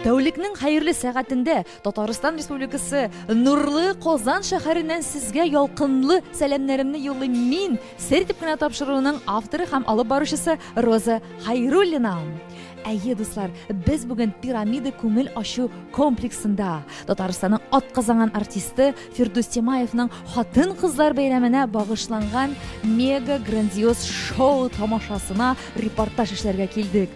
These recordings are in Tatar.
Тәүлекнең хәерле сәгатендә Татарстан Республикасы Нурлы Казан шәһәреннән сезгә ялкынлы сәламнәремне юллыйм мин, сер дип кенә тапшыруының авторы һәм алып баручысы Роза Хайруллина. Әйе, дуслар, без бүген пирамида күңел ачу комплексында Татарстанның атказанган артисты Фирдус Тимаевның хатын-кызлар бәйрәменә багышланган мега грандиоз шоу тамашасына репортаж эшләргә килдек.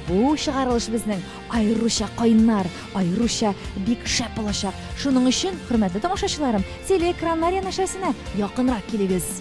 Бу чыгарылыш безнең аеруча кайнар, аеруча бик шәп булачак. Шуның өчен, хөрмәтле тамашачыларым, телеэкраннар янәшәсенә якынрак килегез.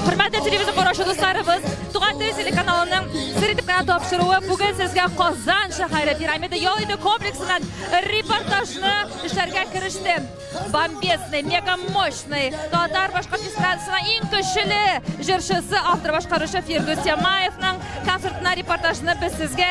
Хөрмәтле телевизор караучы дусларыбыз, Туган тел телеканалының сер итеп кенә тапшыруы бүген сезгә Казан шәһәре пирамида ял итү комплексыннан репортажны эшләргә кереште. Бомбезный, мега мощный, татар башкорт эстрадасына иң көчле җырчысы, автор башкаручы Фирдүс Ямаевның концертына репортажны без сезгә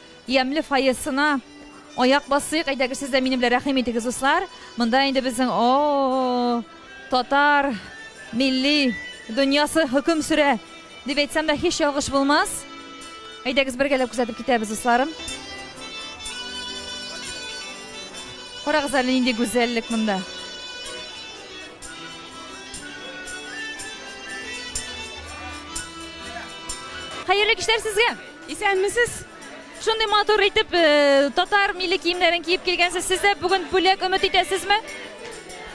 Ямьле фойесына аяк басыйк. Әйдәгез, сез дә минем белән рәхим итегез, дуслар. Монда инде безнең о татар милли дөньясы хөкем сөрә дип әйтсәм дә һич ялгыш булмас. Әйдәгез бергәләп күзәтеп китәбез, дусларым. Карагыз әле нинди гүзәллек монда. Хәерле кичләр сезгә! Исәнмесез! Шундый матур итеп татар милли киемнәрен киеп килгәнсез. Сез дә бүген бүләк өмет итәсезме?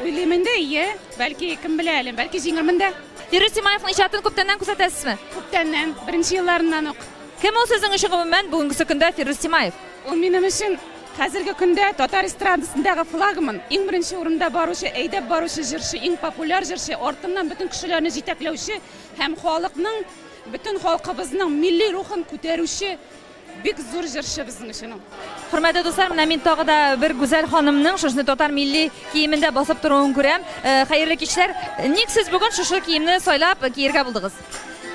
Уйлыйм инде, ие. Бәлки, кем белә әле, бәлки җиңермен дә. Фирүз Тимаевның иҗатын күптәннән күзәтәсезме? Күптәннән, беренче елларыннан ук. Кем ул сезнең өчен гомумән бүгенге көндә Фирүз Тимаев? Ул минем өчен хәзерге көндә татар эстрадасындагы флагман, иң беренче урында баручы, әйдәп баручы җырчы, иң популяр җырчы, артыннан бөтен кешеләрне җитәкләүче һәм халыкның Бөтен халкыбызның милли рухын күтәрүче бик зур җырчы безнең өчен ул. Хөрмәтле дуслар, менә мин тагы да бер гүзәл ханымның шушы татар милли киемендә басып торуын күрәм. Э, хәерле кичләр. Ник сез бүген шушы киемне сайлап киергә булдыгыз?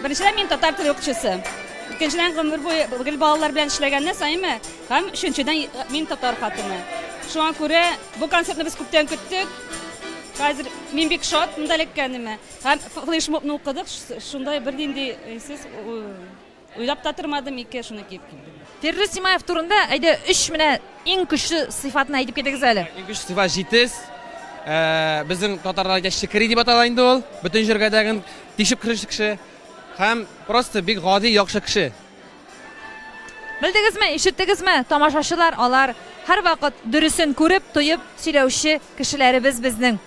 Беренчедән мин татар теле укытучысы. Икенчедән гомер буе гел балалар белән эшләгәннән саимы, һәм өченчедән мин татар хатыны. Шуңа күрә бу концертны без күптән көттек. Хәзер мин бик шат монда эләккәнемә. Һәм флешмобны укыдык, шундай бернинди сез уйлап та тормадым, ике шуны киеп килдем. Фирдүс Симаев турында әйдә өч менә иң көчле сыйфатын әйтеп китегез әле. Иң көчле сыйфат җитез. Ә, безнең татарларда шикри дип атала инде ул. Бөтен җиргә дәген тишеп керүче кеше. Һәм просто бик гади, яхшы кеше. Белдегезме, ишеттегезме, тамашачылар алар һәрвакыт дөресен күреп, тоеп сөйләүче кешеләребез безнең.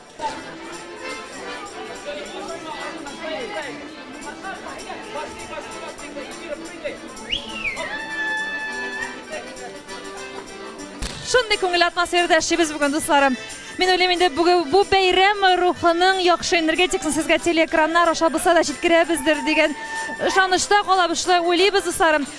Шундый күңел атмосферада яшибез бүген, дусларым. Мин уйлыйм инде бүген бу бәйрәм рухының яхшы энергетикасын сезгә телеэкраннар аша булса да җиткерәбездер дигән ышанычта калабыз. Шулай уйлыйбыз, дусларым.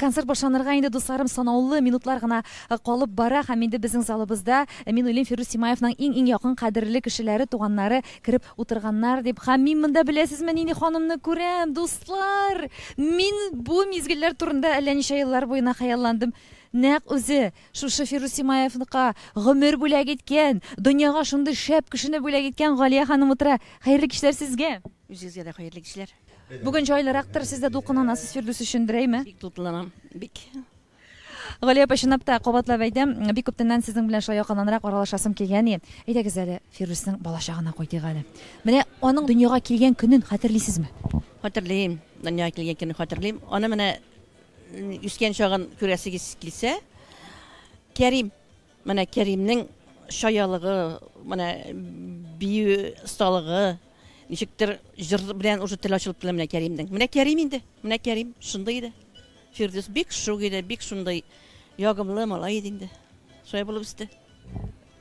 Концерт башланырга инде, дусларым, санаулы минутлар гына калып бара һәм инде безнең залыбызда, мин уйлыйм, Фирдүс Тимаевның иң-иң якын кадерле кешеләре, туганнары кереп утырганнар дип. Һәм мин монда беләсезме нинди ханымны күрәм, дуслар! Мин бу мизгелләр турында әллә ничә еллар буена хыялландым. Нәкъ үзе! Шушы Фирус Симаевныкка гомер бүләк иткән, дөньяга шундый шәп кешене бүләк иткән Галия ханым утыра. Хәерле кичләр сезгә! Үзегезгә дә хәерле кичләр. Бүген җайлырактыр, сез дә дулкынланасыз Фирдүс өчен, берәйме? Бик дулкынланам, бик. Галия апа, чынлап та, кабатлап әйтәм, бик күптәннән сезнең белән шулай якыннанрак аралашасым килгән и. Әйдәгез әле, Фирдүснең балачагына кайтыйк әле. Менә аның дөньяга килгән көнен хәтерлисезме? Хәтерлим, дөньяга килгән көнне хәтерлим. Аны менә Үскән чагын күрәсегез килсә, Кәрим, менә Кәримнең шаялыгы, менә бию осталыгы, ничектер җыр белән уже тел ачылып килә менә Кәримнең. Менә Кәрим инде, менә Кәрим шундый иде. Фирдүс бик шук иде, бик шундый ягымлы малай иде инде. Шулай булып үсте.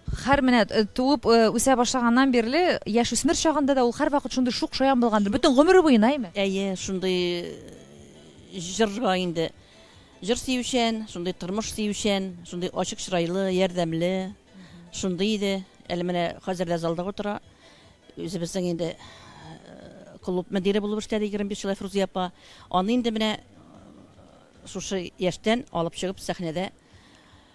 Хәр менә э, туып э, үсә башлаганнан бирле, яшь үсмер чагында да ул һәрвакыт шундый шук шаян булгандыр. Бөтен гомере буена, әйме? Әйе, шундый э, җырга инде. Җыр сөючән, шундый тормыш сөючән, шундый ачык чырайлы, ярдәмле, шундый иде. Әле менә хәзер дә залда утыра. Үзебезнең инде клуб мөдире булып эшләде 25 ел Фрузия апа. Аны инде менә шушы яшьтән алып чыгып сәхнәдә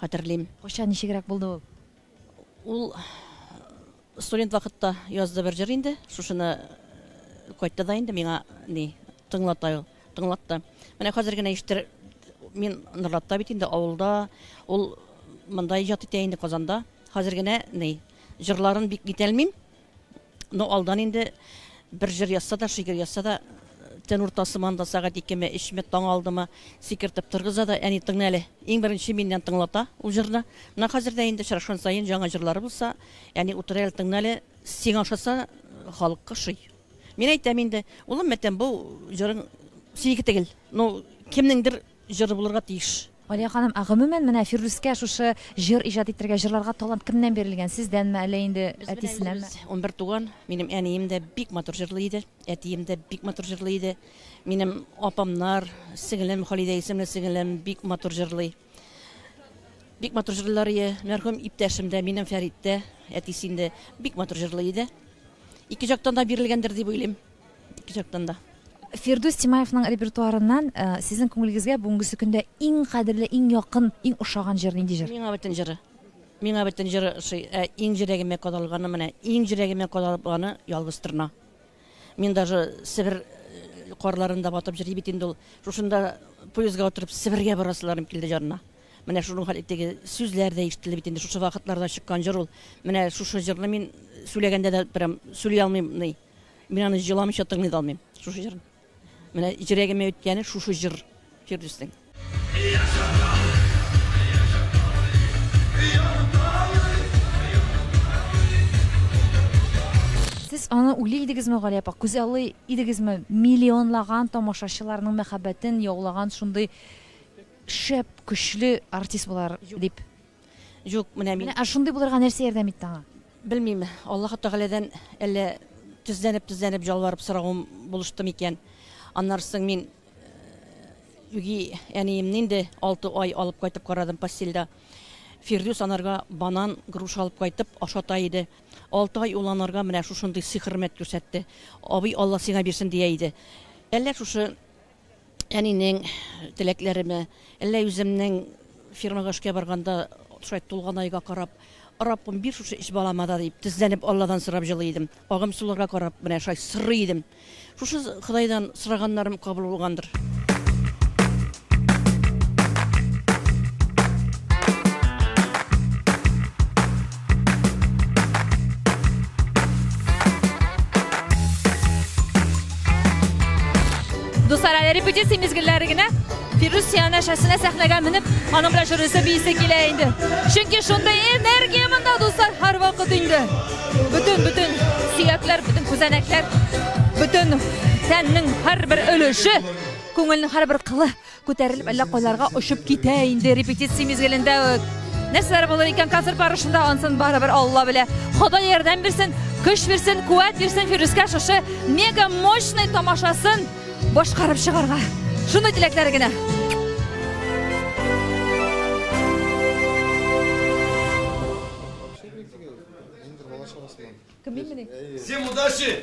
хәтерлим. Кайчан, ничегрәк булды ул? Ул студент вакытта язды бер җыр инде. Шушыны кайтты да инде миңа ни тыңлата ул. Тыңлатты. Менә хәзер генә ишетер мин Норлатта бит инде авылда. Ул монда иҗат итә инде Казанда. Хәзер генә ни җырларын бик итәлмим. Ну, алдан инде бер җыр язса да, шигырь язса да, төн уртасы монда сәгать икеме, өчме, таң алдымы сикертеп торгыза да, әни тыңла әле. Иң беренче миннән тыңлата ул җырны. Менә хәзер дә инде очрашкан саен яңа җырлары булса, әни утыр әле, тыңла әле, сиңа ошаса, халыкка ошый. Мин әйтәм инде, улым, мәтәм, бу җырың синеке түгел. Ну, кемнеңдер җыры булырга тиеш. Алия ханым, ә гомумән менә Фирдүскә шушы җыр иҗат итәргә, җырларга талант кемнән бирелгән, сездәнме, әллә инде әтисенәме? Без унбер туган, минем әнием дә бик матур җырлый иде, әтием дә бик матур җырлый иде, минем апамнар, сеңлем, Халидә исемле сеңлем бик матур җырлый. Бик матур җырлыйлар ие, мәрхүм иптәшем дә, минем Фәрит тә, әтисе инде бик матур җырлый иде. Ике жактан да бирелгәндер дип уйлыйм. Ике жактан да. Фирдүс Тимаевның репертуарыннан сезнең күңелегезгә бүгенгесе көндә иң кадерле, иң якын, иң ошаган җыр нинди җыр? Миңа бөтен җыры. Миңа бөтен җыры ошый. Ә иң җөрәгемә кадалганы менә, иң җөрәгемә кадалганы Ялгыз торна. Мин даже Себер карларында батып җыри бит инде ул. Шушында поездга утырып Себергә барасыларым килде җанына. Менә шуның хәл итеге сүзләр дә ишетелде бит инде. Шушы вакытларда чыккан җыр ул. Менә шушы җырны мин сүләгәндә дә прям сүли алмыйм. Мин аны җыламыйча тыңлый да алмыйм, шушы җырны. Менә җөрәгемә үткәне шушы җыр Фирдүснең. Сез аны уйлый идегезме, Галия апа, күзаллый идегезме? Миллионлаган тамашачыларның мәхәббәтен яулаган шундый шәп, көчле артист булар дип. Юк, менә мин. Менә ә шундый булырга нәрсә ярдәм итте аңа? Белмим, Аллаһы Тәгаләдән әллә тезләнеп-тезләнеп җалварып соравым булышты микән. Аннары соң мин үги әниемне инде алты ай алып кайтып карадым постельдә. Фирдүс анарга банан, груша алып кайтып ашата иде. Алты ай ул анарга менә шушындый сый-хөрмәт күрсәтте. Абый, Алла сиңа бирсен, дия иде. Әллә шушы Әнинең теләкләреме, әллә үземнең фирмага эшкә барганда шулай тулган айга карап, Раббым, бир шушы өч балама да, дип, тезләнеп Алладан сорап җылый идем. Агым суларга карап, менә шулай сорый идем. Шушы Ходайдан сораганнарым кабул булгандыр. Дуслар, әле репетиция мизгелләре генә Фирус янәшәсенә сәхнәгә менеп, аның белән жюрысы бийсе килә инде. Чөнки шундый энергия монда дуслар һәрвакыт инде. Бүтән бүтән сөякләр, бүтән күзәнәкләр, бүтән тәннең һәрбер өлеше, күңелнең һәрбер кылы Күтәрелеп әллә кайларга очып китә инде репетиция мизгелендә үк. Нәрсәләр булыр икән концерт барышында, ансын барыбер Алла белә. Ходай ярдәм бирсен, көч бирсен, куәт бирсен Фирүскә шушы мега мощный тамашасын башкарып чыгарга. Шундый теләкләр генә. Всем удачи!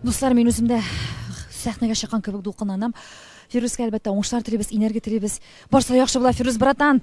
Дуслар, мин үземдә сәхнәгә чыккан кебек дулкынланам. Фирүскә әлбәттә уңышлар телибез, энергия телибез. Барса яхшы була, Фирүз братан!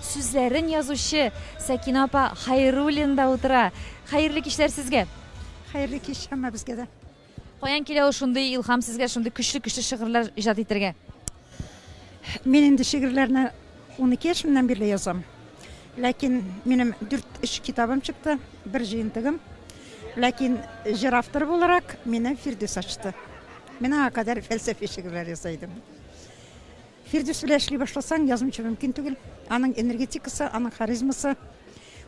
Сүзләрен язучы Сәкинә апа Хәйруллина да утыра. Хәерле кичләр сезгә! Хәерле кич һәммәбезгә дә! Каян килә ул шундый илһам сезгә шундый көчле-көчле шигырьләр иҗат итәргә? Мин инде шигырьләрне унике яшемнән бирле язам. Ләкин минем дүрт өч китабым чыкты, бер җыентыгым. Ләкин җыр авторы буларак мине Фирдүс ачты. Мин аңа кадәр фәлсәфи шигырьләр яза идем. Фирдүс белән эшли башласаң, язмыйча мөмкин түгел. Аның энергетикасы, аның харизмасы.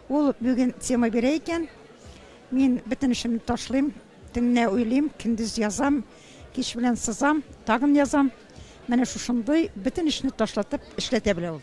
Ул бүген тема бирә икән. Мин бөтен эшемне ташлыйм, төнне уйлыйм, көндез язам, кич белән сызам, тагын язам. Менә шушындый бөтен эшне ташлатып эшләтә белә ул.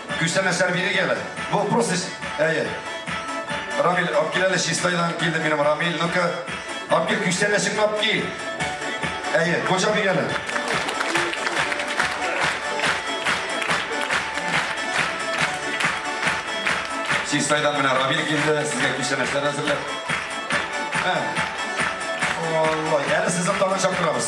Күчтәнәч тә бирик әле. Бу просто ш- әйе. Рамил, алып кил әле Чистайдан килде минем Рамил. Ну-ка, алып кил күчтәнәчеңне алып кил. Әйе, коча бир әле. Чистайдан менә Рамил килде, сезгә күчтәнәчләр әзерләп. Ә. Ой, әле сезне тагын чакырабыз.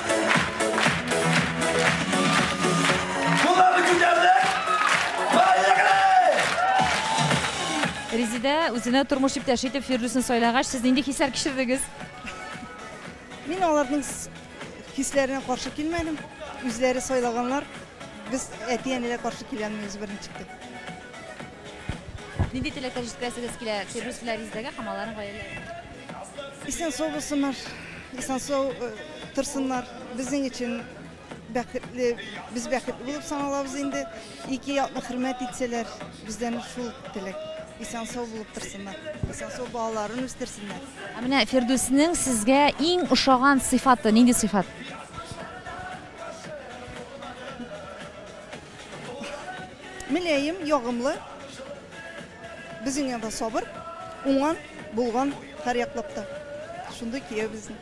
Резидә үзенә тормыш иптәше итеп Фирдүсен сайлагач, сез нинди хисләр кичердегез? Мин аларның хисләренә каршы килмәдем. Үзләре сайлаганнар. Без әти-әниләр каршы киләмиз беренче итеп. Нинди теләкләр җиткерәсегез килә Фирдүс белән Резедәгә һәм аларның гаиләләренә? Исән сау булсыннар, исән сау э, торсыннар. Безнең өчен бәхетле, без бәхетле булып саналабыз инде. Ике якны хөрмәт итсәләр, бездән шул теләк. Исән сау булып торсыннар, исән сау балаларын үстерсеннәр. Ә менә Фирдүснең сезгә иң ошаган сыйфаты нинди сыйфат? Мөләем, ягымлы, безнең янда сабыр, уңган, булган һәр яклап та. Шундый кияү безнең.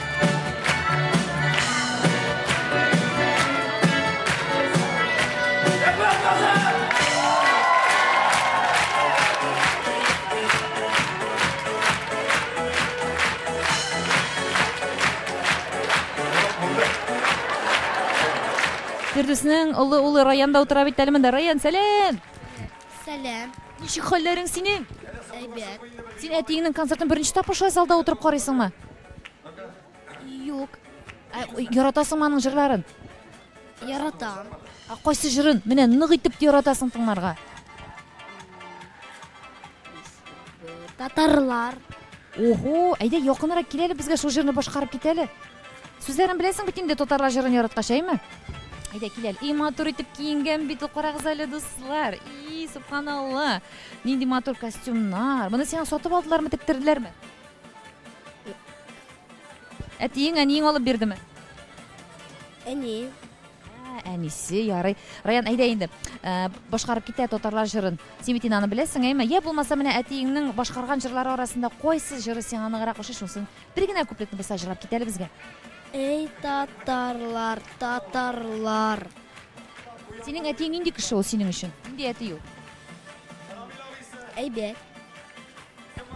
Фирдүснең олы улы Раян да утыра бит әле монда. Раян, сәлам! Сәлам. Ничек хәлләрең синең? Әйбәт. Син әтиеңнең концертын беренче тапкыр шулай залда утырып карыйсыңмы? Юк. Ә, яратасыңмы аның җырларын? Яратам. Ә кайсы җырын? Менә нык итеп яратасың тыңларга. Татарлар. Ого, әйдә якынрак кил әле безгә шул җырны башкарып кит әле. Сүзләрен беләсең бит инде татарлар җырын яраткач, әйме? Әйдә кил әле. И матур итеп киенгән бит, карагыз әле дуслар. И, субханалла. Нинди матур костюмнар. Моны сиңа сатып алдылармы, тектерделәрме? Әтиең, әниең алып бирдеме? Әни. Ә, әнисе, ярый. Раян, әйдә инде. Ә, башкарып китә татарлар җырын. Син бит аны беләсең, әйме? Я булмаса менә әтиеңнең башкарган җырлары арасында кайсы җыры сиңа ныграк ошый шусын? Бер генә куплетны булса җырлап кит әле безгә. Эй, татарлар, татарлар. Синең әтиең нинди кеше ул синең өчен? Нинди әти ул? Әйбәт.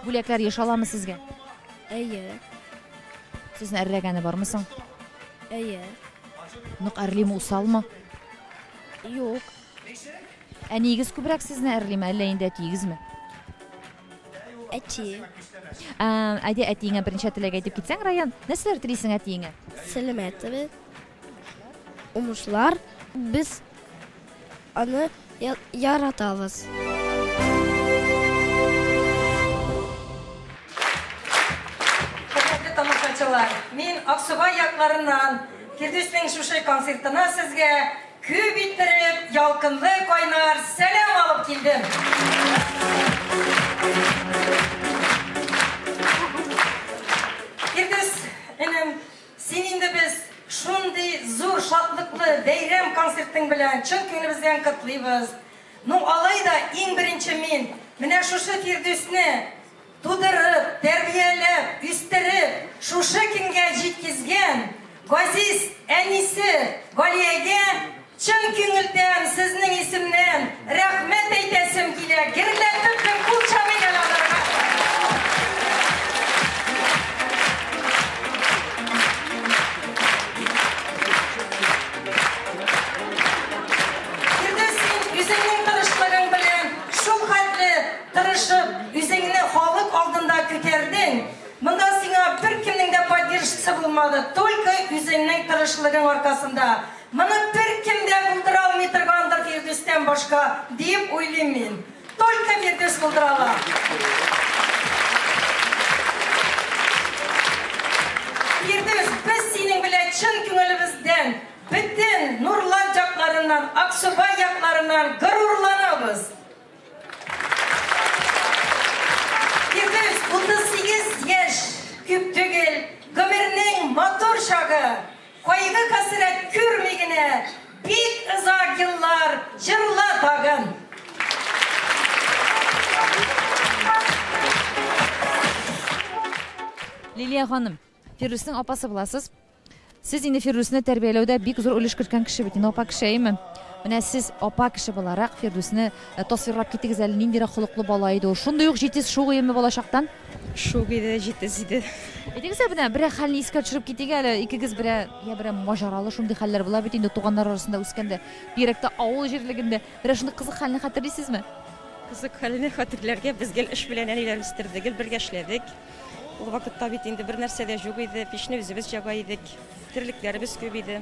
Бүләкләр еш аламы сезгә? Әйе. Сезне әрләгәне бармы соң? Әйе. Нык әрлиме, усалмы? Юк. Әниегез күбрәк сезне әрлиме, әллә инде әтиегезме? Әти. Ә, әйдә әтиеңә беренче теләк әйтеп китсәң, Раян, нәрсәләр телисең әтиеңә? Сәламәтсез. Уңышлар. Без аны яратабыз. Хөрмәтле тамашачылар, мин Аксубай якларыннан Фирдүснең шушы концертына сезгә күп иттереп ялкынлы кайнар сәлам алып килдем. Фирдүс энем, Син инде без шундый зур шатлыклы бәйрәм концертың белән чын күңелебездән котлыйбыз. Ну, алай да иң беренче мин менә шушы Фирдүсне тудырып, тәрбияләп, үстереп, шушы көнгә җиткезгән газиз әнисе Галиягә Чын күңелдән сезнең исемнән рәхмәт әйтәсем килә, герләтеп бер кул чабыйк әле аларга. Фирдүс, син үзеңнең тырышлыгың белән шул хәтле тырышып, үзеңне халык алдында күтәрдең. Монда сиңа беркемнең дә поддержкасы булмады, только үзеңнең тырышлыгың аркасында. Моны беркем дә булдыра алмый торгандыр Фирдүстән башка, диеп уйлыйм мин. Только Фирдүс булдыра ала. Фирдүс, без синең белән чын күңелебездән, бөтен нурлат якларыннан, Аксубай якларыннан горурланабыз. Кайгы-хәсрәт күрми генә, бик озак еллар җырла тагын! Лилия ханым, Фирдүснең апасы буласыз. Сез инде Фирдүсне тәрбияләүдә бик зур өлеш керткән кеше бит, инде апа кешееме? Менә сез апа кеше буларак Фирдүсне э, тасвирлап китегез әле, ниндирәк холыклы бала иде ул? Шундый ук җитез, шугыеме балачактан? Шук иде, җитез иде. Әйтегез әле, менә берәр хәлне искә төшереп китик әле. Икегез берәр, я берәр маҗаралы шундый хәлләр була бит инде туганнар арасында үскәндә, бигрәк тә авыл җирлегендә. Берәр шундый кызык хәлне хәтерлисезме? Кызык хәлне хәтерләргә, без гел эш белән әниләр үстерде, гел бергә эшләдек. Ул вакытта бит инде бернәрсә дә җук иде, пичне үзебез җага идек, терлекләребез күп иде.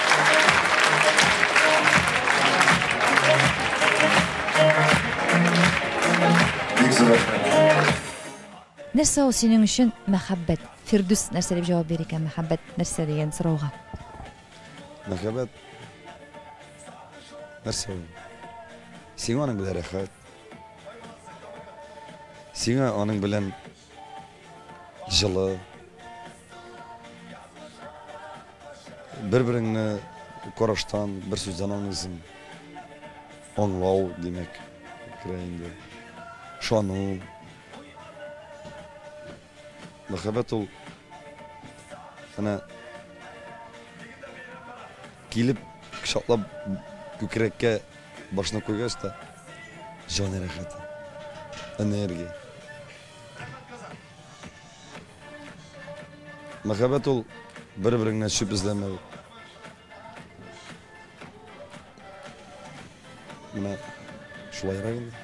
Нәрсә ул синең өчен мәхәббәт? Фирдүс нәрсә дип җавап бирер икән мәхәббәт нәрсә дигән сорауга? Мәхәббәт нәрсә ул? Сиңа аның белән рәхәт. Сиңа аның белән Җылы. Бер-береңне караштан, бер сүздән аңлыйсың. Аңлау, димәк, керә инде. Шану. Мәхәббәт ул менә килеп кочаклап күкрәккә Башына куйгач та, җан рәхәте, энергия. Мәхәббәт ул бер-береңнән шип эзләмәү. Менә шулайрак инде.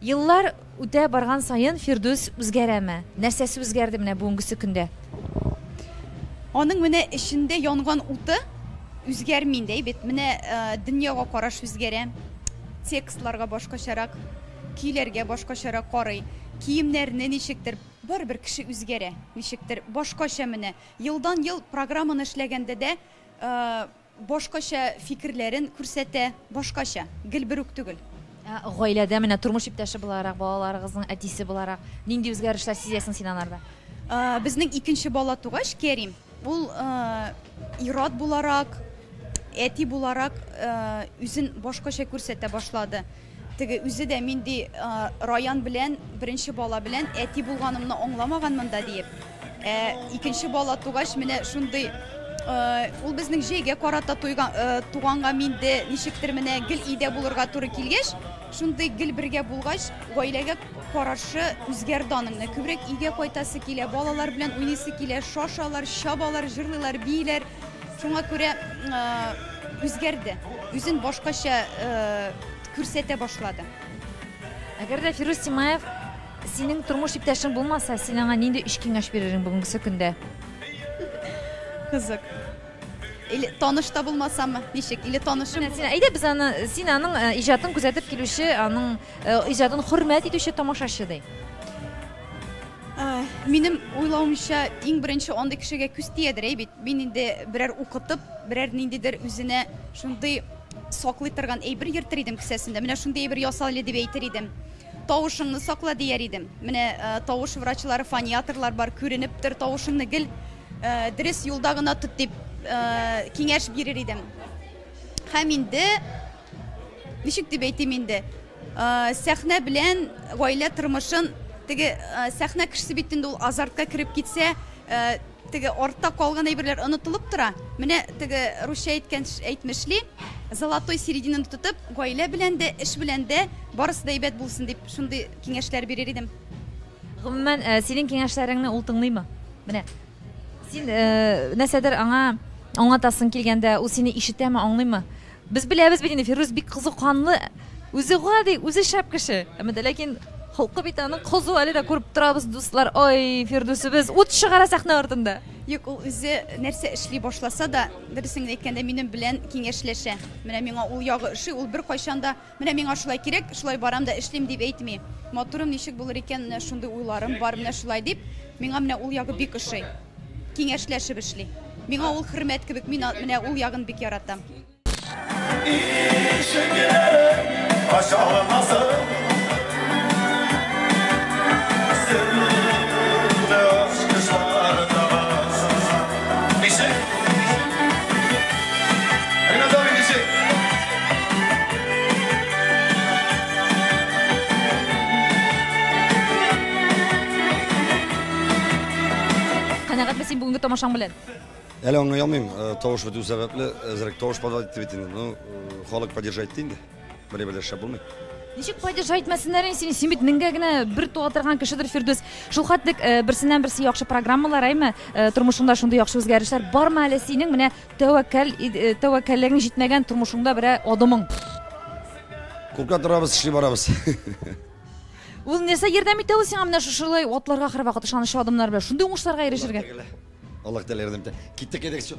Еллар үтә барган саен Фирдүс үзгәрәме? Нәрсәсе үзгәрде менә бүгенгесе көндә? Аның менә эчендә янган уты үзгәрми инде, әйбәт. Менә э, дөньяга караш үзгәрә. Текстларга башкачарак, көйләргә башкачарак карый. Киемнәрне ничектер барыбер кеше үзгәрә. Ничектер башкача менә. Елдан-ел программаны эшләгәндә дә э, Башкача фикерләрен күрсәтә, башкача, гел бер үк түгел. Ә гаиләдә менә тормыш иптәше буларак, балаларыгызның әтисе буларак, нинди үзгәрешләр сизәсең син анарда? Ә, безнең икенче бала тугач, Кәрим, ул ә, ир-ат буларак, әти буларак ә, үзен башкача күрсәтә башлады. Теге үзе дә мин ди Раян белән беренче бала белән әти булганымны аңламаган монда диеп. Ә икенче бала тугач менә шундый ул безнең җәйгә карата туганга мин дә ничектер менә гел өйдә булырга туры килгәч, шундый гел бергә булгач, гаиләгә карашы үзгәрде аның. Күбрәк өйгә кайтасы килә, балалар белән уйныйсы килә, шашалар, чабалар, җырлыйлар, бииләр. Шуңа күрә үзгәрде, үзен башкача күрсәтә башлады. Әгәр дә Фирүз Тимаев синең тормыш иптәшең булмаса, син аңа нинди өч киңәш бирерсең бүгенге көндә? Кызык. Или таныш та булмасаммы? Ничек? Или танышым? Син әйдә без аны син аның э, иҗатын күзәтеп килүче, аның э, иҗатын хөрмәт итүче тамашачы ди. Минем уйлавымча, иң беренче андый кешегә күз тиядер әй бит. Мин инде берәр укытып, берәр ниндидер үзенә шундый саклый торган әйбер йөртер идем кесәсендә. Менә шундый әйбер ясал әле дип әйтер идем. Тавышыңны сакла дияр идем. Менә тавыш врачлары, фониатрлар бар, күренеп тор, тавышыңны гел дөрес юлда гына тот дип киңәш бирер идем. Һәм инде Ничек дип әйтим инде, сәхнә белән гаилә тормышын теге сәхнә кешесе бит инде ул азартка кереп китсә, теге артта калган әйберләр онытылып тора. Менә теге русча әйткән әйтмешли, золотой серединаны тотып, гаилә белән дә, эш белән дә барысы да әйбәт булсын дип, шундый киңәшләр бирер идем. Гомумән, э, синең киңәшләреңне ул тыңлыймы? Менә. Син э, нәрсәдер аңа аңлатасың килгәндә, ул сине ишетәме, аңлыймы? Без беләбез бит инде, Фирүз бик кызу канлы, үзе гади, үзе шәп кеше. Әмма дә ләкин холкы бит аның кызу, әле дә күреп торабыз, дуслар. Ой, Фирдүсебез ут чыгара сәхнә артында. Юк, ул үзе нәрсә эшли башласа да, дөресен генә әйткәндә, минем белән киңәшләшә. Менә миңа ул ягы ошый, ул беркайчан да Менә миңа шулай кирәк, шулай барам да эшлим, дип әйтми. Матурым ничек булыр икән, менә шундый уйларым бар, менә шулай дип, миңа менә ул ягы бик ошый. Киңәшләшеп эшли. Миңа ул хөрмәт кебек, мин менә ул ягын бик яратам. Ишегең ачылмасын, серле ачкычлар да бар. Канәгатьме син бүгенге тамашаң белән? Әле аңлый алмыйм, э, тавыш бетү сәбәпле, әзрәк тавыш подавать итте бит инде. Ну, э, халык поддержать инде. Менә белән шәп булмый. Ничек падеж әйтмәсеннәр инде сине, син бит меңгә генә бер туа торган кешедер Фирдүс. Шул хәтлек э, берсеннән-берсе яхшы программалар, әйме, э, тормышыңда шундый яхшы үзгәрешләр бармы әле синең менә тәвәккәл э, тәвәккәллегең җитмәгән тормышыңда берә адымың? Курка торабыз, эшли барабыз. Ул нәрсә ярдәм итә ул сиңа менә шушылай атларга һәрвакыт ышанычлы адымнар белән шундый уңышларга ирешергә? Аллаһ Тәгалә ярдәм итә. Киттек, әйдәгез, чык.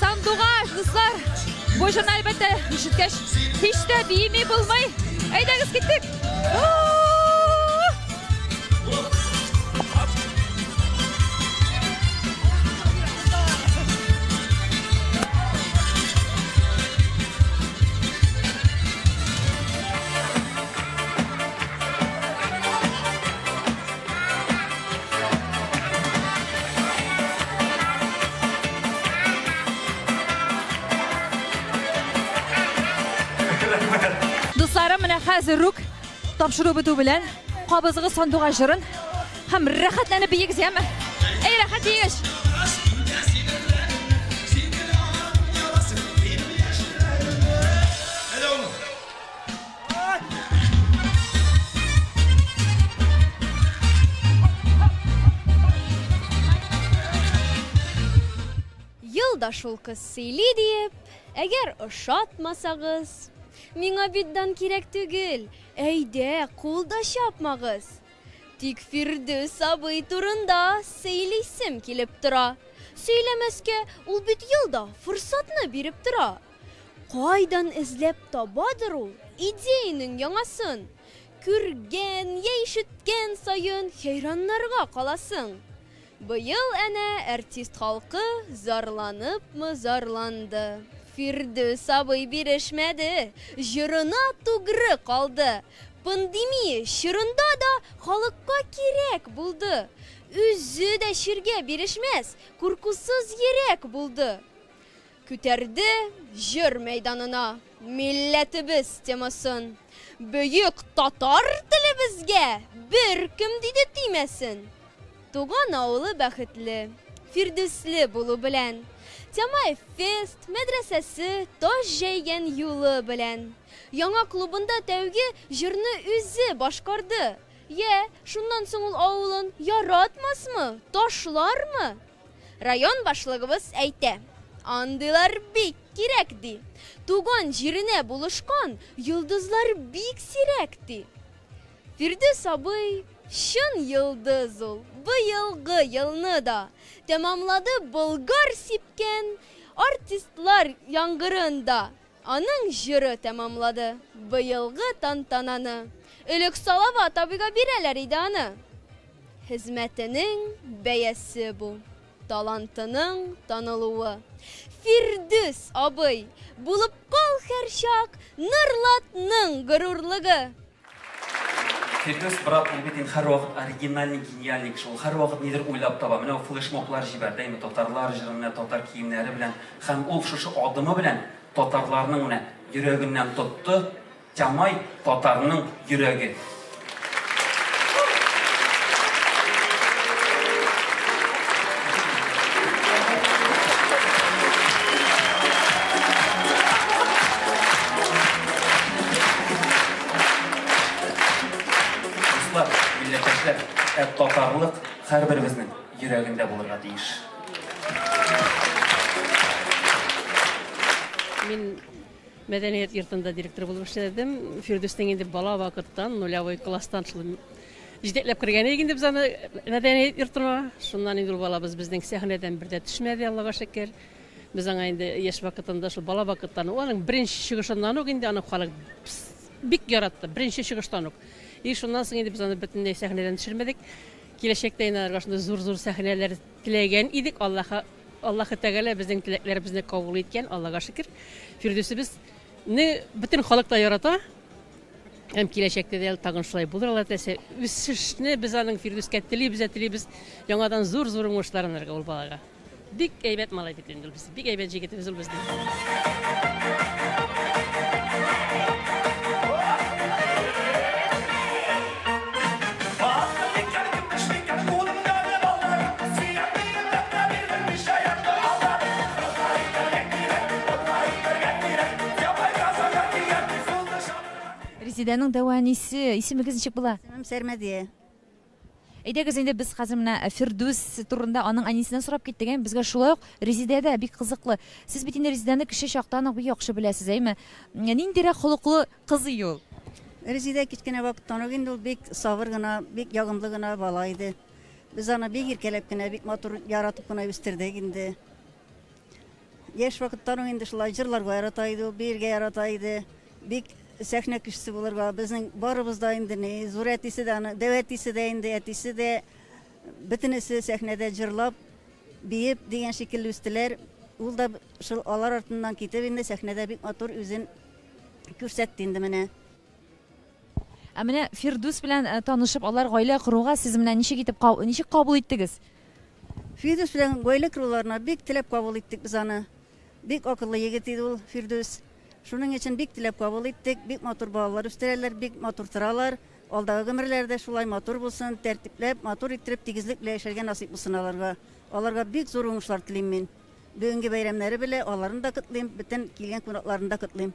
Сандугач, дуслар! Бу җырны әлбәттә ишеткәч, һич тә биеми булмый. Әйдәгез киттек! Дусларым, менә хәзер рук тапшыру бетү белән кабызыгыз сандугач җырын һәм рәхәтләнеп биегез, яме? Әй, рәхәт биегез! Ел да шул кыз сөйли диеп, әгәр ошатмасагыз, миңа бит дан кирәк түгел, әйдә, кул да чапмагыз. Тик Фирдүс абый турында сөйлисем килеп тора. Сөйләмәскә, ул бит ел да форсатны биреп тора. Кайдан эзләп табадыр ул идеянең яңасын? Күргән йә ишеткән саен хәйраннарга каласың. Быел әнә әртист халкы зарланыпмы зарланды, Фирдүс абый бирешмәде, җырына тугры калды. Пандемия чорында да халыкка кирәк булды. Үзе дә чиргә бирешмәс, куркусыз йөрәк булды. Күтәрде җыр мәйданына милләтебез темасын. Бөек татар телебезгә беркем диде тимәсен. Туган авылы бәхетле, Фирдүсле булу белән. Тямаев фест, мәдрәсәсе, таш җәйгән юлы белән. Яңа клубында тәүге җырны үзе башкарды. Йә, шуннан соң ул авылын яратмасмы, ташлармы? Район башлыгыбыз әйтә, андыйлар бик кирәк, ди. Туган җиренә булышкан йолдызлар бик сирәк, ди. Фирдүс абый, чын йолдыз ул, быелгы елны да тәмамлады Болгар сипкән артистлар яңгырын да. Аның җыры тәмамлады быелгы тантананы. Элек Салават абыйга бирәләр иде аны. Хезмәтенең бәясе бу, талантының танылуы. Фирдүс абый, булып кал һәрчак Норлатның горурлыгы! Фирдүс брат, ул бит инде һәрвакыт оригинальный, гениальный кеше. Ул һәрвакыт нидер уйлап таба. Менә ул флешмоблар җибәрде инде татарлар җырына, татар киемнәре белән. Һәм ул шушы адымы белән татарларның менә йөрәгеннән тотты. Тямай татарның йөрәге. Дуслар, милләттәшләр, ә татарлык һәрберебезнең йөрәгендә булырга тиеш. Мин мәдәният йортында директор булып эшләдем. Фирдүснең инде бала вакыттан, нулявый класстан шул җитәкләп кергән идек инде без аны мәдәният йортына. Шуннан инде ул балабыз безнең сәхнәдән бер дә төшмәде, Аллага шөкер. Без аңа инде яшь вакытында шул бала вакыттан ук, аның беренче чыгышыннан ук инде аны халык бик яратты, беренче чыгыштан ук. И шуннан соң инде без аны бөтенләй сәхнәдән төшермәдек. Киләчәктә инде аларга шундый зур-зур сәхнәләр теләгән идек. Аллаһы Аллаһы Тәгалә безнең теләкләребезне кабул иткән, Аллага шөкер. Фирдүсебезне бөтен халык та ярата. Һәм киләчәктә дә тагын шулай булыр Алла теләсә. Үсешне без аның Фирдүскә телибез, телибез. Яңадан зур-зур уңышлар алырга ул балага. Бик әйбәт малай бит инде ул без. Бик әйбәт җигетебез ул безнең. Резедәнең дәвә әнисе, исемегез ничек була? Исемем Сәрмәдия. Әйдәгез инде без хәзер менә Фирдүс турында аның әнисеннән сорап киттек, әйме? Безгә шулай ук Резидә дә бик кызыклы. Сез бит инде Резидәне кече чактан ук бик яхшы беләсез, әйме? Ниндирәк холыклы кызый ул? Резидә кечкенә вакыттан ук инде ул бик сабыр гына, бик ягымлы гына бала иде. Без аны бик иркәләп кенә, бик матур яратып кына үстердек инде. Яшь вакыттан ук инде шулай җырларга ярата иде ул, биергә ярата иде. Бик сәхнә кешесе булырга, безнең барыбыз да инде ни, зур әтисе дә аны, дәү әтисе дә инде, әтисе дә бөтенесе сәхнәдә җырлап, биеп дигән шикелле үстеләр. Ул да шул алар артыннан китеп инде сәхнәдә бик матур үзен күрсәтте инде менә. Ә менә Фирдүс белән танышып, алар гаилә коруга сез менә ничек итеп каб, ничек кабул иттегез? Фирдүс белән гаилә коруларына бик теләп кабул иттек без аны. Бик акыллы егет иде ул Фирдүс. Шуның өчен бик теләп кабул иттек. Бик матур балалар үстерәләр, бик матур торалар. Алдагы гомерләре дә шулай матур булсын, тәртипләп, матур иттереп, тигезлек белән яшәргә насыйп булсын аларга. Аларга бик зур уңышлар телим мин. Бүгенге бәйрәмнәре белән аларны да котлыйм, бөтен килгән кунакларны да котлыйм.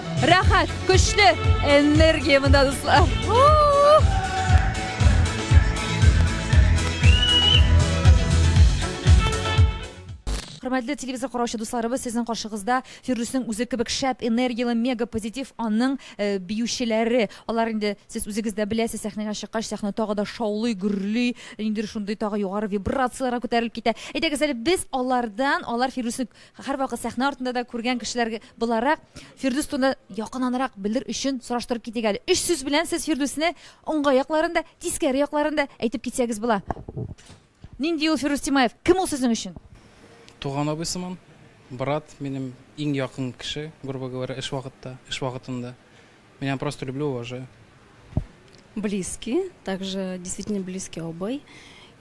Рәхәт, көчле энергия монда, дуслар. Хөрмәтле телевизор караучы дусларыбыз, сезнең каршыгызда Фирдүснең үзе кебек шәп, энергияле, мега позитив аның э, биючеләре. Алар инде сез үзегез дә беләсез, сәхнәгә чыккач, сәхнә тагы да шаулый, гөрли, ниндидер шундый тагы югары вибрацияләргә күтәрелеп китә. Әйдәгез әле без алардан, алар Фирдүсне Һәрвакыт сәхнә артында да күргән кешеләр буларак, Фирдүс турында якынанрак белер өчен сораштырып китик әле. Өч сүз белән сез Фирдүсне уңга якларын да, тискәре якларын да әйтеп китсәгез була. Нинди ул Фирдүс Тимаев? Кем ул сезнең өчен? Туган абый сыман, брат, минем иң якын кеше, грубо говоря, эш вакытта, эш вакытында. Меня просто люблю, уважаю. Близкий, также действительно близкий обой.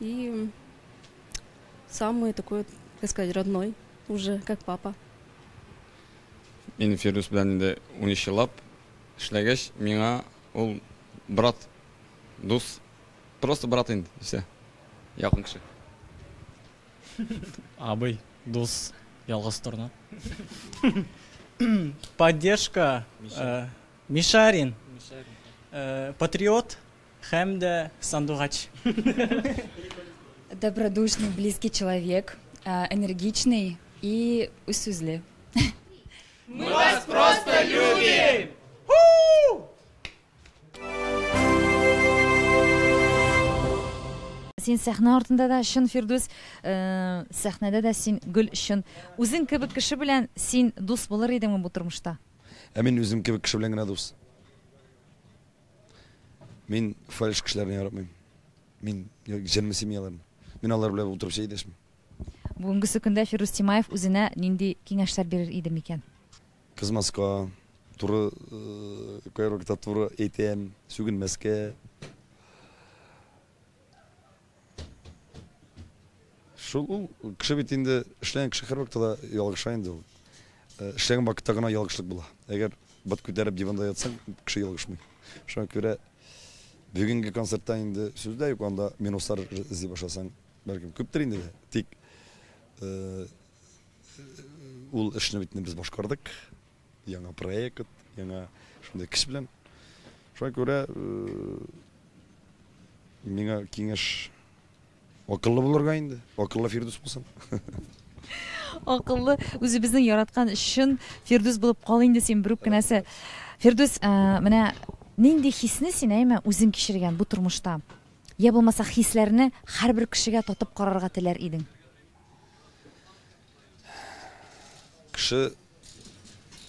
И Самый такой, как сказать, родной уже, как папа. Мин Фирдус белән инде 13 еллап эшләгәч, миңа ул брат, дус, просто брат инде, все. Якын кеше. Абый, дус, ялгыз торна. Поддержка. Э, Мишарин. Э, патриот. Һәм дә сандугач. Добродушный, близкий человек, энергичный и үзсүзле. Мы вас просто любим! Син сәхнә артында да чын Фирдүс, э, сәхнәдә дә син гөл чын. Үзең кебек кеше белән син дус булыр идеңме бу тормышта? Ә мин үзем кебек кеше белән генә дус. Мин фальш кешеләрне яратмыйм. Мин җенле семьяларны. Мин алар белән утырып чәй дәшмим. Бүгенгесе көндә Фирус Тимаев үзенә нинди киңәшләр бирер иде микән? Кызмаска, туры кайвакытта туры әйтәм, сүгенмәскә. Шул ул кеше бит инде эшләгән кеше һәрвакытта да ялгыша инде ул. Э, эшләгән вакытта гына ялгышлык була. Әгәр бот күтәреп диванда ятсаң, кеше ялгышмый. Шуңа күрә бүгенге концертта инде сүз дә юк, анда минуслар эзли башласаң, бәлкем күптер инде дә. Тик э, ул эшне бит без башкардык. яңа проект, яңа шундый кеше белән. Шуңа күрә миңа киңәш акыллы булырга инде, акыллы Фирдус булсын. Акыллы үзебезнең яраткан чын Фирдус булып кал инде син бер үк кенәсе. Фирдус, менә нинди хисне син әйме үзең кичергән бу тормышта? Я булмаса хисләрне һәрбер кешегә татып карарга теләр идең? Кеше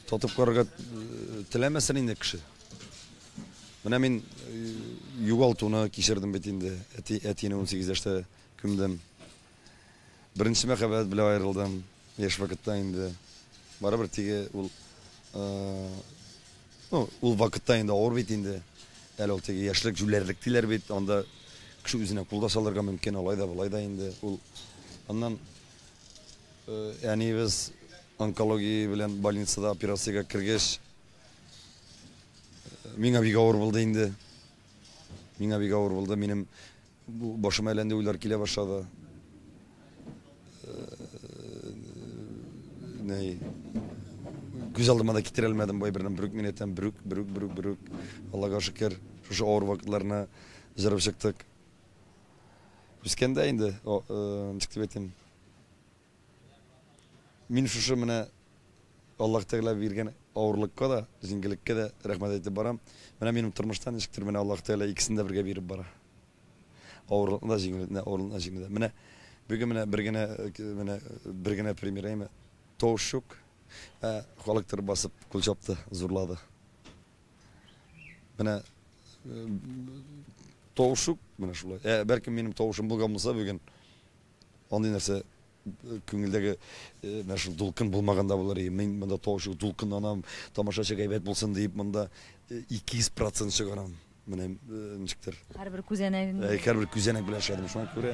татып карарга э, теләмәсен инде кеше. Менә мин э, югалтуны кичердем бит инде. Әти, әтине 18 яшьтә күмдем. Беренче мәхәббәт белән аерылдым. Яшь вакытта инде. Барыбер теге ул э, ну, ул вакытта инде авыр бит инде. Әле ул теге яшьлек җүләрлек диләр бит. Анда кеше үзенә кул да салырга мөмкин, алай да, болай да инде. Ул аннан Әниебез онкология белән больницада операциягә кергәч, миңа бик авыр булды инде. Миңа бик авыр булды. Минем башыма әлләнди уйлар килә башлады. Нәй, күз алдыма да китерә алмадым бай бердән бер үк минуттан бер үк, бер үк, бер үк, бер үк. Аллага шөкер, шушы авыр вакытларны җырып чыктык. Үскәндә инде, ничек дип әйтим, мин шушы менә Аллаһ Тәгалә биргән авырлыкка да, җиңгелеккә дә рәхмәт әйтеп барам. Менә минем тормышта ничектер менә Аллаһ Тәгалә икесен дә бергә биреп бара. Авырлыкны да, җиңгелекне дә, авырлыкны да, җиңгелекне дә. Менә бүген менә бер генә, менә бер генә пример әйме, тавыш юк, ә халыктыр басып кул чапты, зурлады. Менә тавышук менә шулай. Ә бәлкем минем тавышым булган булса бүген андый нәрсә күңелдәге менә шул дулкын булмаган да булыр. Мин монда тавышук дулкынланам, тамашачы гайбәт булсын диеп монда 200% чыгарам. Менә ничектер. Һәрбер күзәнәгеңне. Һәрбер күзәнәк белән эшләдем шуңа күрә.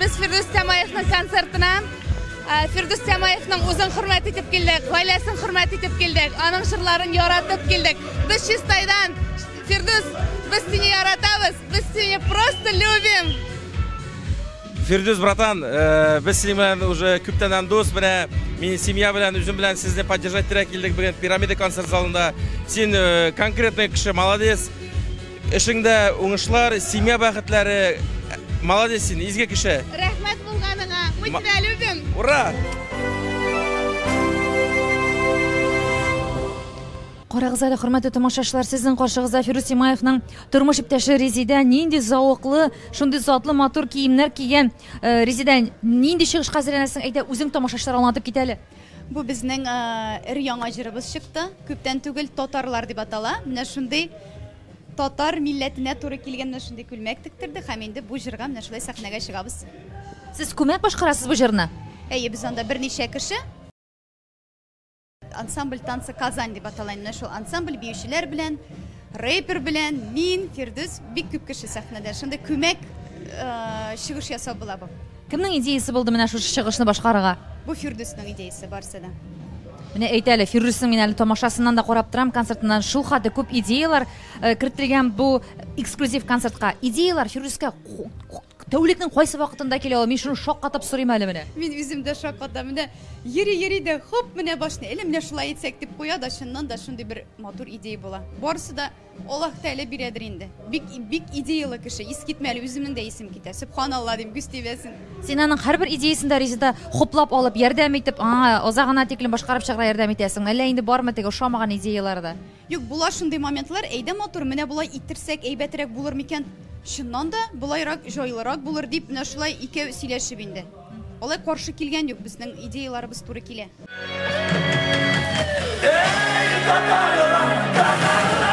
Без Фирдүс Тямаевның концертына Фирдүс Тямаевның үзен хөрмәт итеп килдек, гаиләсен хөрмәт итеп килдек, аның җырларын яратып килдек. Без Чистайдан, Фирдүс, без сине яратабыз, без сине просто любим. Фирдүс братан, э, без синең белән уже күптәннән дус, менә мин семья белән, үзем белән сезне поддержать итәргә килдек бүген пирамида концерт залында. Син э, конкретный кеше, молодец. Эшеңдә уңышлар, семья бәхетләре. Молодец син, изге кеше. Рәхмәт булганыга. Мы тебя любим. Ура! Карагыз әле, хөрмәтле тамашачылар, сезнең каршыгызда Фирус Имаевның тормыш иптәше Резидә нинди зауыклы, шундый затлы матур киемнәр кигән. Э, Резидә, нинди чыгышка әзерләнәсең? Әйдә, үзең тамашачылар аңлатып кит әле. Бу безнең эр яңа җырыбыз чыкты. Күптән түгел татарлар дип атала. Менә шундый татар милләтенә туры килгән менә шундый күлмәк тектердек һәм инде бу җырга менә шулай сәхнәгә чыгабыз. Сез күмәк башкарасыз бу җырны? Әйе, без анда берничә кеше. Ансамбль танцы Казань дип атала. Менә шул ансамбль биючеләр белән Рэпер белән мин, Фирдүс, бик күп кеше сәхнәдә. Шундый күмәк чыгыш ясау була бу. Кемнең идеясе булды менә шушы чыгышны башкарырга? Бу Фирдүснең идеясе барысы да. Менә әйт әле, Фирдүснең мин әле тамашасыннан да карап торам, концертыннан шул хәтле күп идеялар э, кертелгән бу эксклюзив концертка. Идеялар Фирдүскә Тәүлекнең кайсы вакытында килә ул? Мин шуны шаккатып сорыйм әле менә. Мин үзем дә шаккатам. Менә йөри-йөри дә хоп, менә башны әле менә шулай итсәк дип куя да, чыннан да шундый бер матур идея була. Барысы да Аллаһ Тәгалә бирәдер инде. Бик бик идеялы кеше. Ис китмәле, үземнең дә исем китә. Сөбханалла дим, күз тибәсен. Син аның һәрбер идеясен дә Резеда хуплап алып, ярдәм итеп, аңа азагына тиклем башкарып чыгарга ярдәм итәсеңме? Әллә инде бармы теге ошамаган идеяләре дә? Юк, була шундый моментлар, әйдә матур, менә болай иттерсәк әйбәтерәк булыр микән, чыннан да болайрак җайлырак булыр дип, менә шулай икәү сөйләшеп инде. Алай каршы килгән юк, безнең идеяларыбыз туры килә. Эй, татарлар, татарлар!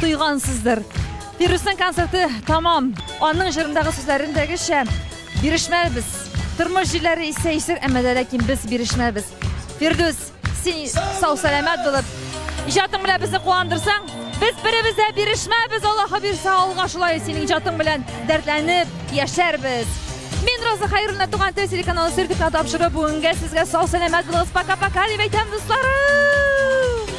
Тойгансыздыр. Фирусның концерты тамам. Аның җырындагы сүзләрендәгечә бирешмәбез. Тормыш җилләре исә исер, әмма дә ләкин без бирешмәбез. Фирдус, син сау сәламәт булып, иҗатың белән безне куандырсаң, без беребез дә бирешмәбез, Аллаһы бирсә, алга шулай синең иҗатың белән дәртләнеп яшәрбез. Мин Роза Хайруллина туган тел телеканалы сертификат тапшыру бүгенгә сезгә сау сәламәт булыгыз. Пока-пока дип әйтәм, дусларым.